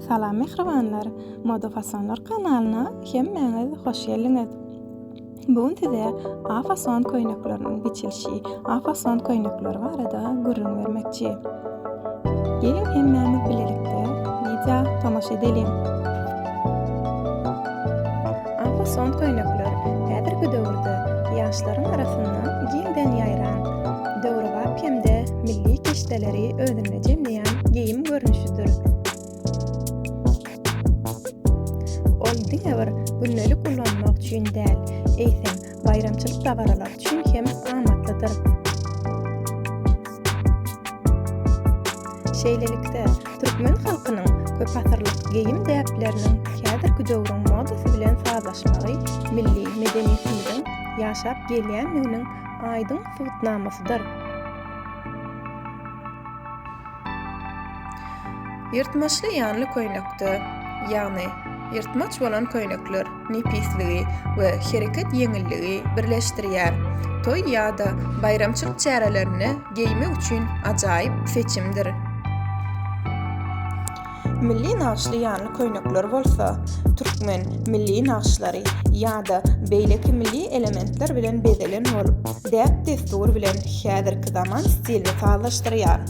Salam mähribanlar! Moda fasonlar kanalyna hemmäňiz hoş geldiňiz! Bu gün size A fason köýnekleriniň biçilişi, A fason köýnekleri barada gürrüň bermekçi. Geliň hemmämiz bilelikde wideo tomaşa edeliň! Ampasant köýnekler häzirki döwürde ýaşlaryň arasynda giňden ýaýran, döwrebap hem-de milli kişdeleri özünde jemleýän geýim görnüşidir. Ol diňe bir gündelik ulanmak üçin däl, eýsem, baýramçylyk dabaralary üçin hem amatlydyr. Şeýlelikde, türkmen halkynyň köpasyrlyk geýim-däpleriniň häzirki döwrüň modasy bilen sazlaşmagy milli medeniýetimiziň ýaşap gelýändiginiň aýdyň subutnamasydyr. Ýyrtmaçly ýanly köýnekde, ýagny ýyrtmaç bolan köýnekler. nepisligi we hereket ýeňilligi birleşdirýär. Toý ýa-da baýramçylyk çärelerinde geýmek üçin ajaýyp seçimdir. Milli nagyşly ýanly köýnekler bolsa, türkmen milli nagyşlary ýa-da beýleki milli elementler bilen bezelen bolup, däp-dessur bilen häzirki zaman stilini sazlaşdyrýar.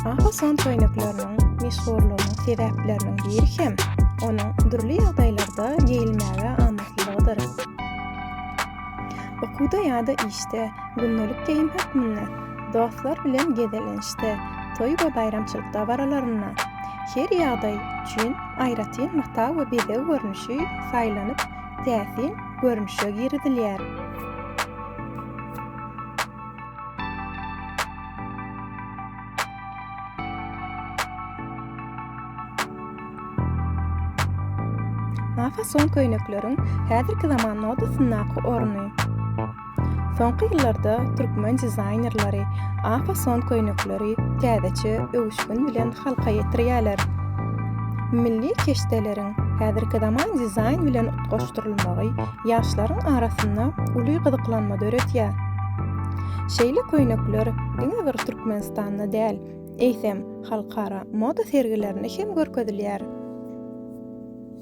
Ahason köýnekleriniň meşhurlygynyň sebäpleriniň biri hem onuň dürli ýagdaýlarda geýilmäge amatlylygydyr. Okuwda ýa-da işde, gündelik geýim hökmünde, dostlar bilen gezelençde, toý we baýramçylyk dabaralarynda, her ýagdaý üçin aýratyn mata we bezeg görnüşi saýlanyp, täsin görnüşe girizilýär. Mafason köýnekleriň häzirki zaman modasyndaky orny. Soňky ýyllarda türkmen dizaýnerleri A-fason köýnekleri täzeçe öwüşgin bilen halka ýetirýärler. Milli keşdeleriň häzirki zaman dizaýn bilen utgaşdyrylmagy ýaşlaryň arasynda uly gyzyklanma döredýär. Şeýle köýnekler diňe bir Türkmenistanda däl, eýsem, halkara moda sergilerinde hem görkezilýär.